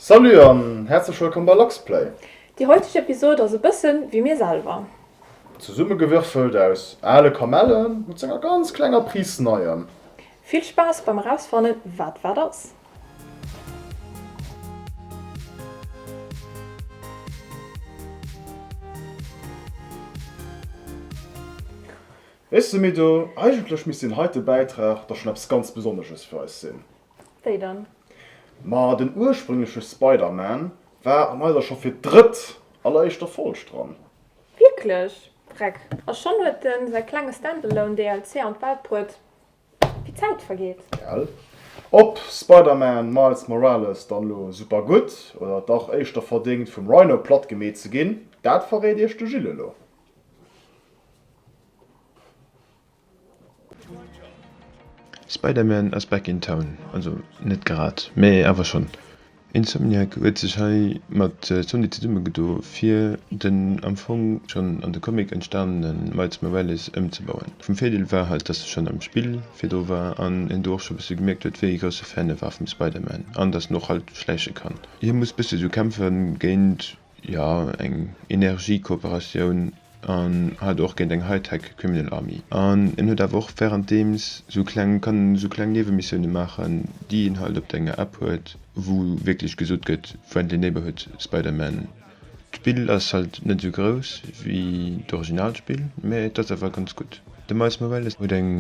Salut an häerzlech wëllkomm bei Luxplay! Déi heuteg Episode ass e bëssen wéi mir selwer. Zesummegewürfelt aus ale Kamellen mat senger ganz klenger Prise Neiem. Vill Spaass beim erausfannen wat wat ass! Hey Semido, eigentlech misst deen heite Bäitrag da schon eppes ganz Besonnesches fir eis sinn. Wéi dann? Ma den ursprüngleche Spider-Man war an eiser scho fir d'drëtt alleréischter Folg dran. Wierklech? Vreck, a schonn huet e säi klenge Standalone DLC an d'Welt bruet. Wéi d'Zäit vergeet. Gell? Ob Spider-Man Miles Morales dann elo super gutt oder dach éischter verdéngt vum Rhino platt gemeet ze ginn, dat verréit iech de Gilles elo. Spider-Man ass back in town, also net grad, mä awer schonn. Insomniac huet sech hei mat Sony zesummegedo fir den am Fong schonn an de Comic entstanene Miles Morales ëmzebauen. Vum Virdeel war halt, dass e schonn am Spill virdru war an een do och scho bësse gemierkt huet, wéi ee grousse Fan e war vum Spider-Man an dass en och halt schläiche kann. Hie muss bësse sou kämpfe géint jo eng Energiekooperatioun an hat och géint eng Hightech Criminal Army. An en huet awer och währenddeems sou kleng, kann en sou kleng Niewemissioune maachen, déi een halt op denger App huet, wou wierklech gesot gëtt, Friendly Neighborhood Spider-Man. D'Spill ass halt net sou grouss wéi d'Originalspill, mä et ass awer ganz gutt. De Miles Morales huet eng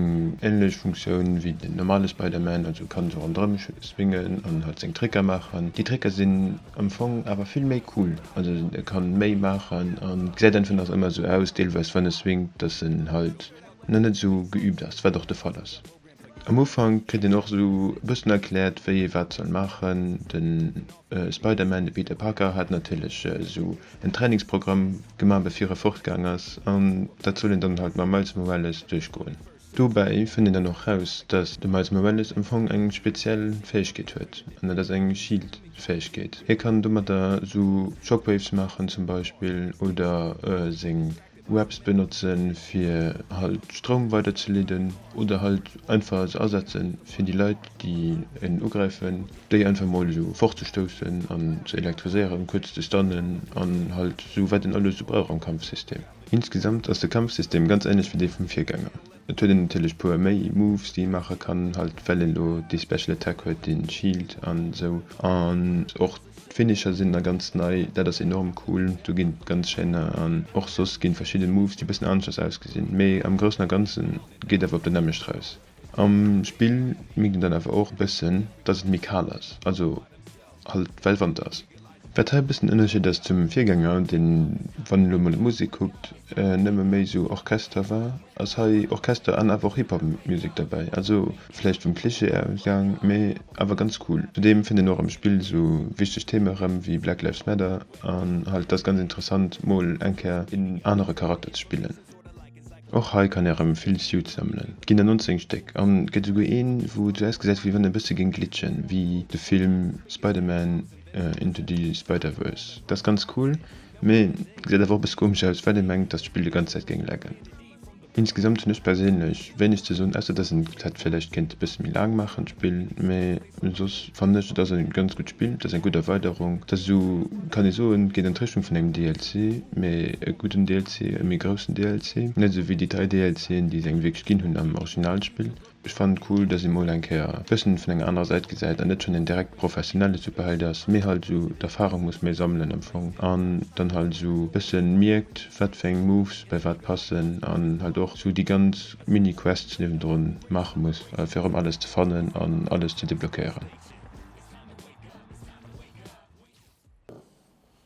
ähnlech Funktioun wéi den normale Spider-Man, also kann esou rondrëm swingen an halt seng Tricker maachen. Déi Tricker sinn am Fong awer vill méi cool, also e kann méi maachen an et gesäit einfach nach ëmmer esou aus, deelweis wann e swingt, dass en halt nach net esou geübt ass, wat och de Fall ass. Am Ufank kritt een och esou e bëssen erkläert, wéi ee wat soll maachen. De Spider-Man, de Peter Parker, hat natierlech esou en Trainingsprogramm gemaach, bevir e fortgaang ass, an dat soll een dann halt mam Miles Morales duerchgoen. Dobäi fënnt een dann och raus, dass de Miles Morales am Fong eng speziell Fäegkeet huet, an dat ass eng Shield-Fäegkeet. Hie kann domatter esou Shockwaves maachen zum Beispill, oder seng. Webs benotzen fir halt Stroum weider ze leeden oder halt einfach se asetzen fir déi Leit déi en ugräifen déi einfach mol esou fort ze stoussen an ze elektriséieren, kuerz ze stunnen an halt esou wat en alles esou brauch am Kampfsystem. Insgesamt ass de Kampfsystem ganz ähnlech wéi dee vum Virgänger. Et huet en natierlech puer méi Moves déi ee maache kann, halt well en elo dee Special Attack huet, dee Shield an esou an och D'Finisher sinn na ganz nei, dat ass enorm cool, do ginn d'ganz schéin nar an och soss ginn verschidden Moves déi bëssen aneschters ausgesinn, mee am groussen a ganzen geet awer op dat nämmlecht raus. Am Spill mierkt een dann awer och e bëssen dass et méi kal ass, also halt well Wanter ass. Wat hei e bëssen Ënnerscheed ass zum Virgänger, deen wann een elo mol op d'Musek kuckt nëmme méi sou Orchester war, ass hei Orchester an awer och Hip-Hop Music derbäi, also Vläicht vum Klischee ausgaang, mee awer ganz cool. Zudeem fënnt een och am Spill esou wichteg Theme erëm wéi Black Lives Matter an halt et ass ganz interessant mol eng Kéier een anere Charakter ze spillen. Och hei kann ee erëm vill Suits sammelen, et ginn der 19 Stéck an et gëtt esouguer een wou et esou ausgesäit wéi wann e bësse géing glitchen wéi de Film Spider-Man Into the Spider-Verse. Et ass ganz cool, mee gesäit awer och e bësse komesch aus well ee mengt dass d'Spill de ganz Zäit géing laggen. Insgesamt hunn ech perséinlech wéineg ze soen, ausser dass een d'Zäit vläicht kéint e bësse méi laang maachen, d'Spill. Mee soss fannen ech, et ass e ganz gutt Spill, et ass eng gutt Erweiderung, et ass esou, kann ee soen, et ginn Enttäuschung vun engem DLC, mee e gudden DLC, e méi groussen DLC, net esou wéi déi dräi DLCen, déi se engem wierklech ginn hunn am Originalspill. Ech fannen et cool dass ee mol eng Kéier e bëssen vun enger anerer Säit gesäit an net schon een direkt professionelle Superheld ass mee halt esou d'Erfahrung muss méi sammelen am Fong an dann halt esou e bëssen mierkt wat fir eng Moves bei wat passen an halt och esou déi ganz mini Quests niewendrun maachen muss fir erëm alles ze fannen an alles ze deblockéieren.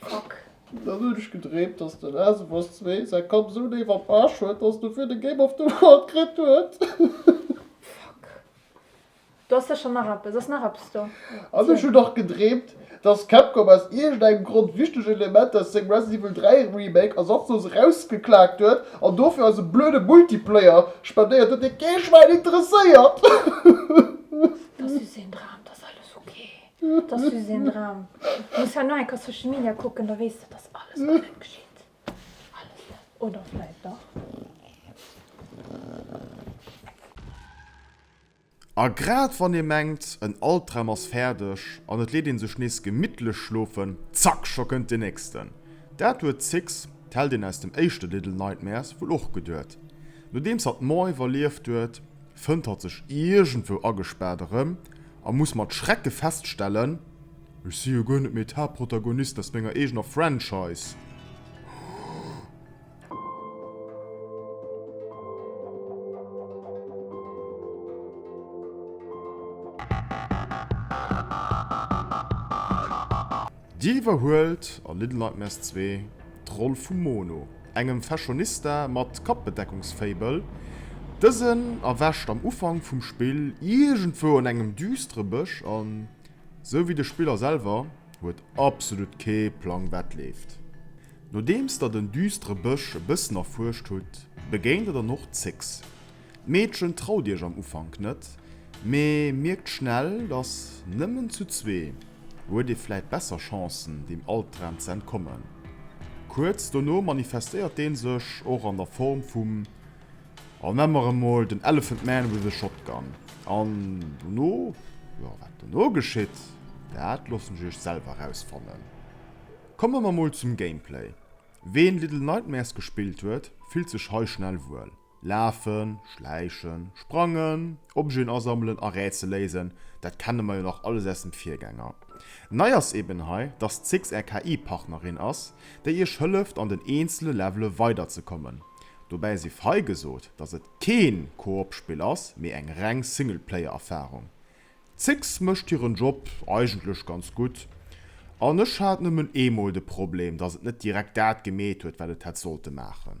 Fuck. Dann hunn ech gedreemt, dass de Last of Us Zwee säi Kapp esou néif am Arsch huet, dass dofir de Game of the World kritt huet. Fuck. Do ass sécher nach eppes. Ass nach eppes do? An ech hunn nach gedreemt, dass Capcom aus iergendengem Grond wichteg Elementer aus sengem Resident Evil 3 Remake ersatzlos erausgeklaakt huet an dofir eis e blöde Multiplayer spendéiert huet, dee kee Schwäin interesséiert. Dass du seng draamt ass alles ok. Et ass just een Dram. Du muss hei no eng Kéier Social Media kucken, da weess de, dass alles guer net geschitt. Alles net. Oder vläit dach? A grad wann ee mengt, en Albdram ass fäerdeg an et leet ee sech nees gemittlech schlofen, zack, scho kënnt deen nächsten. Dat huet Six, d'Heldin aus dem éischte Little Nightmares, wuel och geduet. Nodeems hatt d'Mort iwwerlieft huet, fënnt hatt sech iergendwou agespaart erëm. A muss mat Schrecke feststellen, Ech si jo guer net méi d'Haaptprotagonist aus menger eegener Franchise! Dir iwwerhuelt, an Little Nightmares 2, d'Roll vum Mono, engem Fashionista mat Kappbedeckungsfaible. Dësen erwächt am Ufank vum Spill iergendwou an engem düstere Bësch an, sou wéi de Spiller selwer, huet absolut kee Plang wat leeft. Nodeems der den düstere Bësch e bëssen erfuerscht hutt, begéint der dann och Zix, D'Meedchen traut iech am Ufank net, mee mierkt schnell, dass nëmmen zu zwee huet ee vläit besser Chancen, deem Albdram ze entkommen. Kuerz dono manifestéiert dee sech och an der Form vum, an nennen mer en mol den Elephant Man with a Shotgun. An dono, jo, wat dono geschitt, dat loossen ech iech selwer erausfannen. Komme mer mol zum Gameplay. Ween Little Nightmares gespillt huet, fillt sech hei schnell wuel. Lafen, schläichen, sprangen, Objeten asammelen a Rätsel léisen, dat kenne mer jo nach alles aus dem Virgänger. Nei ass eben hei, dass d'Six är KI-Partnerin ass, déi iech hëlleft an den eenzele Levele weider ze kommen. Dobäi si fei gesot, dass et kee Koop-Spill ass, mee eng reng Singleplayer-Erfarung. D'Six mécht hiren Job eigentlech ganz gutt, an ech hat nëmmen eemol de Problem, dass et net direkt dat gemeet huet, wat et hätt sollte maachen.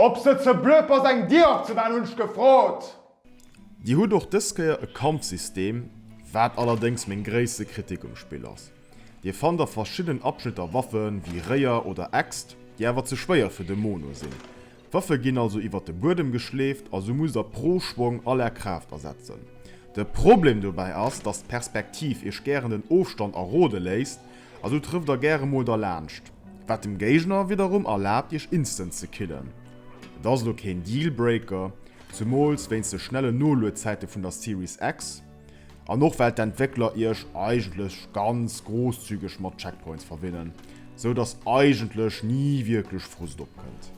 Ob se ze blöd ass eng Dier opzemaachen hunn ech gefrot. Dir hutt och dës Kéier e Kampfsystem, wat allerdéngs meng gréisste Kritik um Spill ass. Dir fannt a verschiddenen Abschnitter Waffen, wéi Réier oder Äxt, déi awer ze schwéier fir de Mono sinn. D'Waffe ginn also iwwer de Buedem geschleeft a sou musst der pro Schwong all är Kraaft asetzen. De Problem dobäi ass, dass d'Perspektiv iech gären den Ofstand erode léisst a sou trëfft der gäre mol derlaanscht, wat dem Géigner widderum erlaabt iech instant ze killen. Et ass elo keen Deal-Breaker, zumools wéinst de schnellen Noluedzäite vun der Series X. An och well d'Entwéckler iech eigentlech ganz grosszügeg mat Checkpoints verwinnen, sou dass eigentlech ni wierklech Frust opkënnt.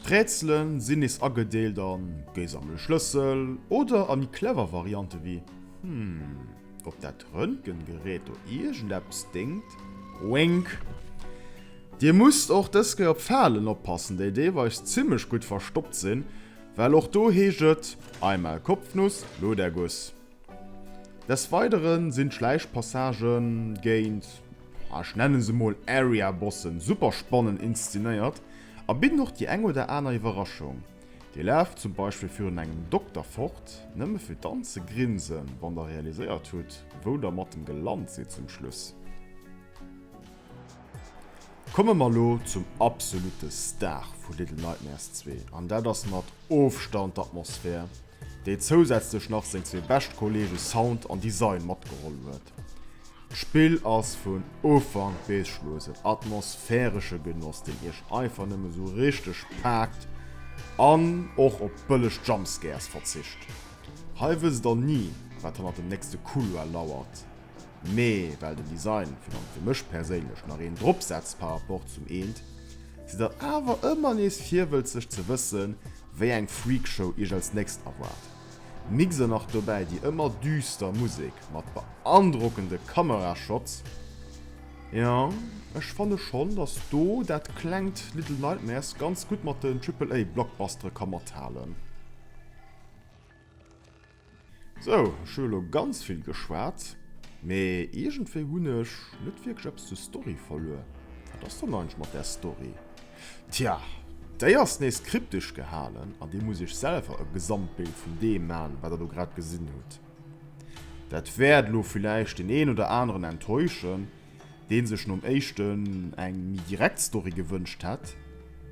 D'Rätsele sinn nees agedeelt a Géi sammele Schlëssel oder a méi clever Variante wéi Hm, ob dat Röntgengerät do iergendeppes déngt? Wink! Dir musst och dës Kéier op Falen oppassen, déi deelweis zimmlech gutt verstoppt sinn. Well och do heescht et, Einmal Kopfnuss, lo der Guss. Des Weidere sinn d'Schläichpassagë géint, ech nenne se mol Area-Bossen, super spannend inszenéiert a bidden och déi eng oder aner Iwwerraschung. Dir laaft zum Beispill virun engem Dokter fort, nëmme fir dann ze grinsen, wann der realiséiert hutt, wou der mat dem gelant sidd zum Schluss. Komme mer elo zum absolute Star vu Little Nightmares 2, an dat ass mat Ofstand d'Atmosphär, déi zousätzlech nach seng zwee bescht Kollege Sound an Design matgeholl huet. D'Spill ass vun Ufank bis Schluss en atmosphäresche Genoss, deen iech einfach nëmme sou richteg paakt an och op bëlleg Jumpscares verzicht. Hei wësst der ni, wat hannert dem nächste Couloir lauert. mee well den Design vun an fir mech perséinlech nach een drop setzt par rapport zum eent, si der awer ëmmer nees virwëlzeg ze wëssen wéi eng Freakshow iech als nächst erwaart. Mixe nach dobäi déi ëmmer düster Musek mat beandrockende Kamerashots, jo ech fanne schonn dass do dat klengt Little Nightmares ganz gutt mat den Triple-A Blockbustere ka mathalen. Sou, ech hu elo ganz vill geschwat, mee iergendwéi hunn ech net wierklech eppes zur Story verluer. Wat ass dann eigentlech mat där Story? Tja, déi ass nees kryptesch gehalen an dir musst iech selwer e Gesamtbild vun deem man, wat der do grad gesinn hutt. Dat wäert elo villäicht deen een oder aneren enttäuschen, dee sech nom éischten eng méi direkt Story gewënscht hätt,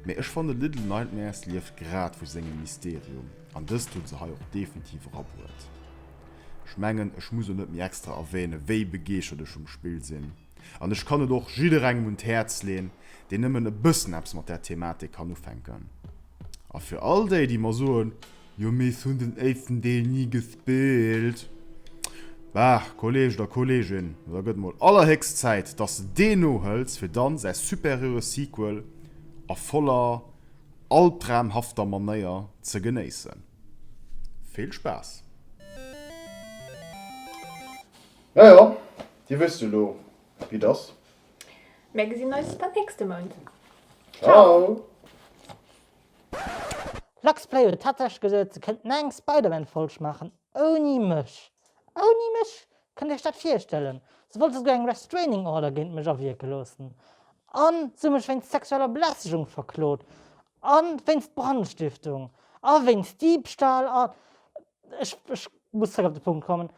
mee ech fannen Little Nightmares lieft grad vu sengem Mysterium. An dëst hunn se hei och definitiv erabruet. Ech mengen, ech muss elo net méi extra erwänen, wéi begeeschtert ech vum Spill sinn. An ech kann et och jidderengem un d'Häerz leeën, deen nëmmen e bëssen eppes mat där Thematik kann ufänken. A fir all déi, déi mer soen, Jo, mee ech hunn den éischten Deel ni gespillt. Bah, Kolleeg oder Kolleegin, da gëtt mol allerhéchst Zäit, dass de deen nohëls, fir dann säi superieure Sequel a voller altraumhafter Manéier ze genéissen. Vill Spaass! Jo jo, Dir wësst jo lo wéi et ass. Mär gesinn eis dann nächste Mount. Ciao! Luxplay huet tatsächlech gesot se kënnten eng Spider-Man Folg maachen ouni mech. Ouni mech? Kënnt Iech dat virstellen? Se wollt esouguer eng Restraining Order géint mech awierke loossen a se hu mech wéinst sexueller Belästegung verklot a wéinst Brandstiftung a wéinst Diebstahl a. Ech muss zeréck op de Punkt kommen.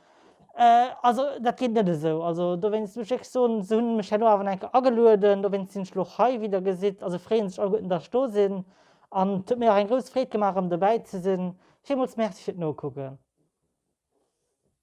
Also dat geet net esou. Also dowéinst muss ech iech soen, se hunn mech herno awer nach enker agelueden, dowéinst sinn ech elo hei, wéi der gesitt, a se freeë sech alleguerten, datt ech do sinn an et huet mir och eng grouss Freed gemaach erëm dobäi ze sinn. Villmools Merci fir d'Nokucken.